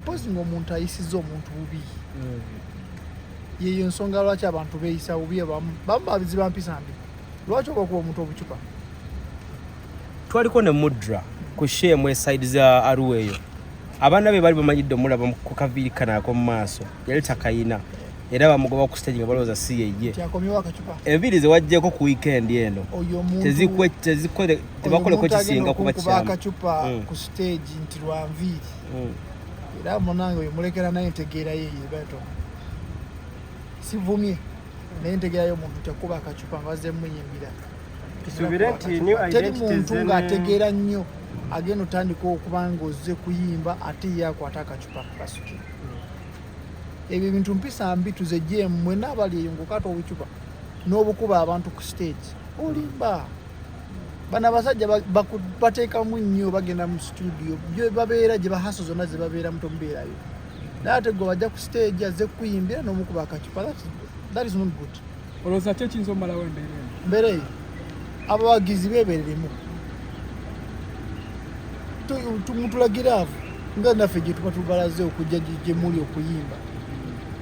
mpozi ngaomuntu ayisiza omuntu bubi mm. yeyo ensonga lwaki abantu beyisa bubi abamu bamu babiziba mpisa mbi lwaki oba kuba omuntu obucupa twaliko ne mudra ku shemu esaidi za aruwa eyo abaana be bali bamanyidde omulaba ku kaviiri kanaako mu maaso yali takayina era bamugoba ku stage nga balowooza si yeye enviiri zewajjeko ku weekend eno tebakoleko kisinga kuba kyakacupa mm. ku stage nti lwanviiri mm. era munange oyo mulekera naye entegeera yeye beto sivumye naye entegeera yo muntu tekuba akacupa nga wazze muyimbira teri muntu ng'ategeera nnyo agenda otandika okuba ng'ozze kuyimba ate ye akwata akacupa kakasuki ebyo ebintu mpisa mbi tuzegyemu mwena abali eyo ngaokata obucupa n'obukuba abantu ku stage olimba bano abasajja bateekamu nnyo bagenda mu situdio babeera gye bahaso zonna ze babeeramu tomubeerayo naye ate gwe bajja ku stage azze kukuyimbira n'omukuba akacupa that is not good olowooza ki ekiyinza omumalawo embeera eno mbeera eyo abawagizi beebereremu mutulagira avo nga naffe gye tuba tubalaze okujja gye muli okuyimba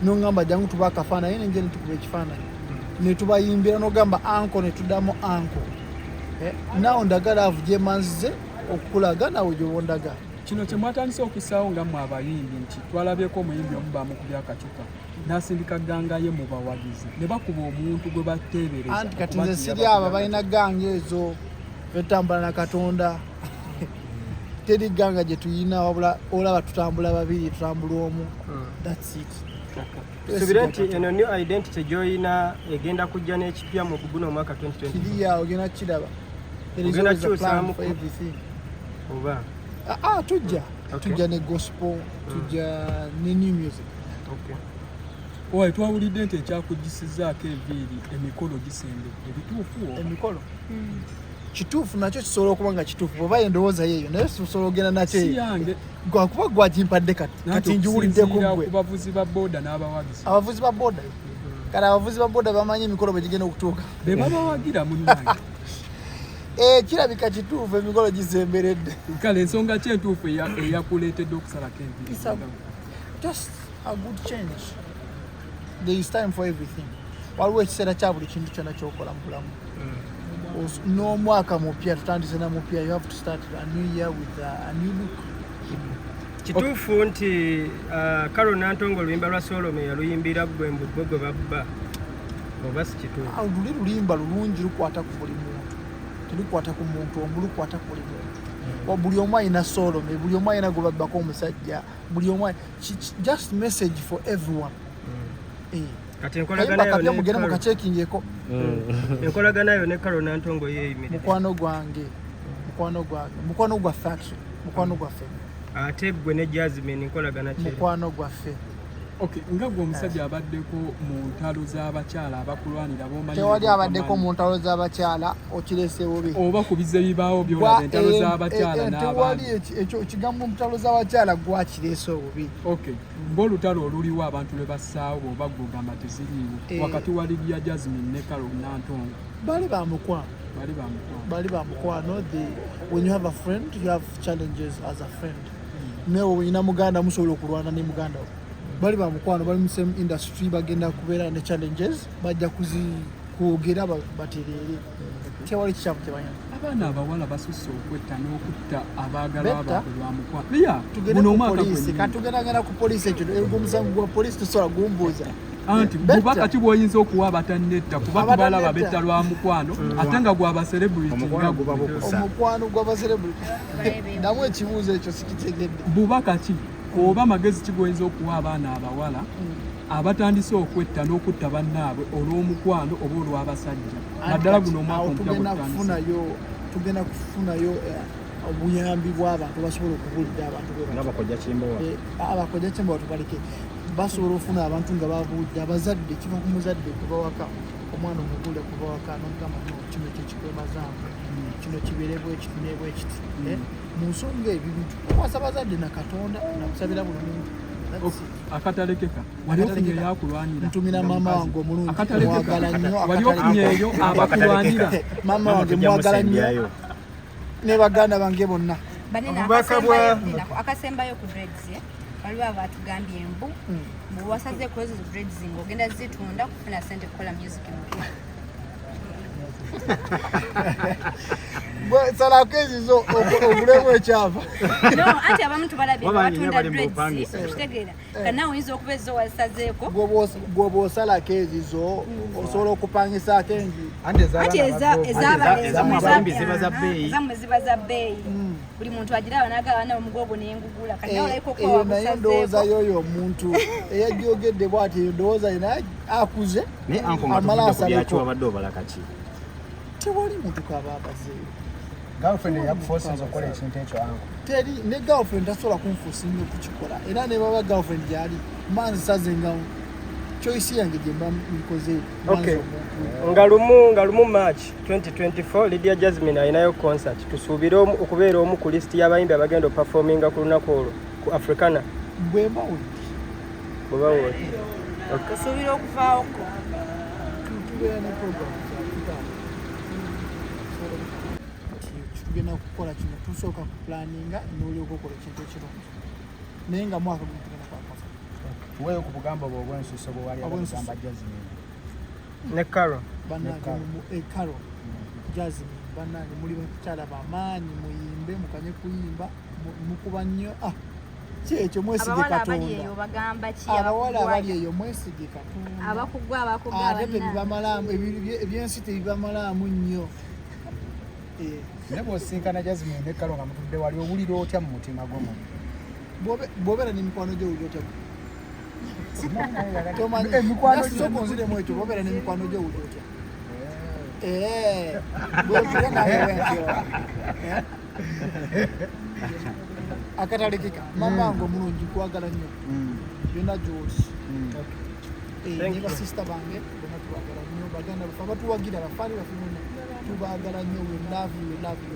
nongamba jangu tuba akafaananyi nenje netukuba ekifaananyi netubayimbira nogamba anko netudamu anko eh, nawo ndagala avu gyemanzize okukulaga nawe gyobondaga kino kyemwatandise okusaawo nga mwe abayimbi nti twalabyeko omuyimbi omu bamukubyakacupa nasindika gangaye mu bawagizi ne bakuba omuntu gwe bateebereza anti kati nze siri abo balina ganga ezo fetambula na katonda teri ganga gye tuyina wabula olaba tutambula babiri tutambula omu hmm. thats it subira nti eno new identity gyoyina egenda kujja n'ekipya mu guno omwaka 2020 kiriya ogenda kukiraba ogenda kukyusaamu oba ah, ah, tujja tujja ne gospel tujja ne new music Owaye twawulidde nti ekyakugisizaako eviiri emikolo gisembedde ebituufu emikolo hmm. kituufu nakyo kisobola okuba nga kituufu oba endowooza yeeyo naye sisobola ogenda nakyo yange gwakuba gwagimpadde kati njiwuliddeko gwe abavuzi ba boda abavuzi ba boda kale abavuzi ba boda bamanyi emikolo bwe gigenda okutuuka be babawagira munange eh, kirabika kituufu emikolo gisemberedde kale ensonga ki entuufu eyakuleetedde okusalako enviiri just a good change there is time for everything waliwo ekiseera kya buli kintu kyona kyokola mu bulamu mm. n'omwaka mupya tutandise na mupya you have to start a new year with a new look kituufu nti uh, karo nantongo oluyimba lwa solome yaluyimbira gwe mbugwe gwe babba oba sikituufu ah, luli lulimba lulungi lukwata ku buli muntu telukwata ku muntu omu lukwata ku buli muntu mm. buli omu alina solome buli omu alina gwe babbako omusajja buli omu just message for everyone mm. eh. kati enkolaganayomugeera mukakyekingyeko mm. enkolagana yo ne karo nantongo yeyimirira mukwano gwange mukwano gwange mukwano gwaffe mukwano gwaffe ate gwe ne jasmine nkolagana mukwano gwaffe Okay, nga gwe omusajja abaddeko mu ntalo z'abakyala abakulwanira bomanyi tewali abaddeko mu ntalo z'abakyala okirese bubi oba ku bize bibaawo byolaba entalo eh, z'abakyala eh, eh, tewali ekyo ekigambo mu ntalo z'abakyala gwakirese obubi okay ng'olutalo oluliwo abantu lwe bassaawo bwoba gwogamba teziriiwo wakati wa lidia jasmine ne carol nantongo bali ba mukwano bali ba mukwano bali ba mukwano when you have a friend you have challenges as a friend nawe olina muganda musobola okulwana ne muganda wo bali ba mukwano bali mu same industry bagenda kubeera ne challenges bajja kuzikwogera batereere tewali kikyamu kyebanyana abaana abawala basusse okwetta n'okutta abaagalwa baabwe lwa mukwano tugenda ku poliisi ekyo omusango gwa poliisi tusobola gumbuuza anti bubaka ki bwoyinza okuwa abatannetta kuba tubalaba betta lwa mukwano mm. ate nga gwa baserebritimukwano gwa baserebriti namu ekibuuzo ekyo sikitegedde bubaka ki oba magezi ki gwoyinza okuwa abaana abawala mm. abatandise okwetta n'okutta bannaabwe olw'omukwano oba olw'abasajja naddala guno omwaka omupya gwetandise tugenda kufunayo eh, obuyambi bw'abantu basobola okubulira abantu beabakoja kimbowa eh, abakoja kimbowa tubaleke basobola ofuna abantu nga babuudde abazadde kiva ku muzadde kubawaka omwana omugule kubawaka nomugamba no kino kyekikwemazaamu hmm. kino kiberebwa ekiti nebwa ekiti hmm. eh, mu nsonga ebyo bintu okwasa abazadde na katonda nakusabira buli muntu akatalekeka wali ofunye yakulwanira ntumira mama wange omulungi akatalekeka wali ofunye eyo abakulwanira mama wange mwagala nnyo ne baganda bange bonna obubaka bwa akasembayo ku dreads eh? waliwo abatugambye mbu hmm. mbu wasaze kwezo dreads mbu ogenda zitunda kufuna sente kukola music mpya salako ezizo okulemu ekyava anti abamu tubalabye batunda dreads okitegeera eh, Eh. kana oyinza okuba ezo wasazeeko gwoba osalako ezizo mm. osobola okupangisaako enju anti ezamwe ziba za bbeeyi eh, mm. buli muntu agira abanaga abaana omugogo nengugula kanaye ndowooza yoyo omuntu eyajogedde bwati ndowooza yena akuze amala asaleko tewali muntu kaba abazeeyo girlfriend yakufosinza okukola ekintu ekyo angu teri ne girlfriend tasobola kunfosinga okukikola era ne baba girlfriend gyali manzi sazenga choice yange gye mba nkoze okay nga lumu nga lumu march 2024 lydia jasmine alinayo concert tusuubire okubeera omu ku list y'abayimbi abagenda opafominga ku lunaku olwo ku africana bwemba wodi bweba wodi tusuubira okuvaawoko tubeera ne program tugenda kukola kino tusooka ku planinga nolyoka okola ekintu ekirungi naye nga mwaka guno tugenda kwakwafa weyo ku bugambo bwe obwensuso bwewaliagamba jasmin ne caro banange mu ecaro eh, jasmin banange muli bakyala bamaanyi muyimbe mukanye kuyimba mukuba nnyo ah kyekyo mwesige katondaabawala abali eyo mwesige katonda ate tebibamalamu ebyensi tebibamalaamu nnyo eh. naye bwosinkana jasmine ne kalo nga mutudde wali owulira otya mu mutima gwo muntu bwobeera ne mikwano gyo owulira otya tomanyimukwanoonziremu ekyo bwobeera ne mikwano gyo owulira otya eh. bwozire nawe wentyo akatalekeka mama wange omulungi kwagala nnyo yona gyoli basista bange tubagala nnyo baganda baffe abatuwagira bafaani baffe bonna tubagala nnyo we love you we love you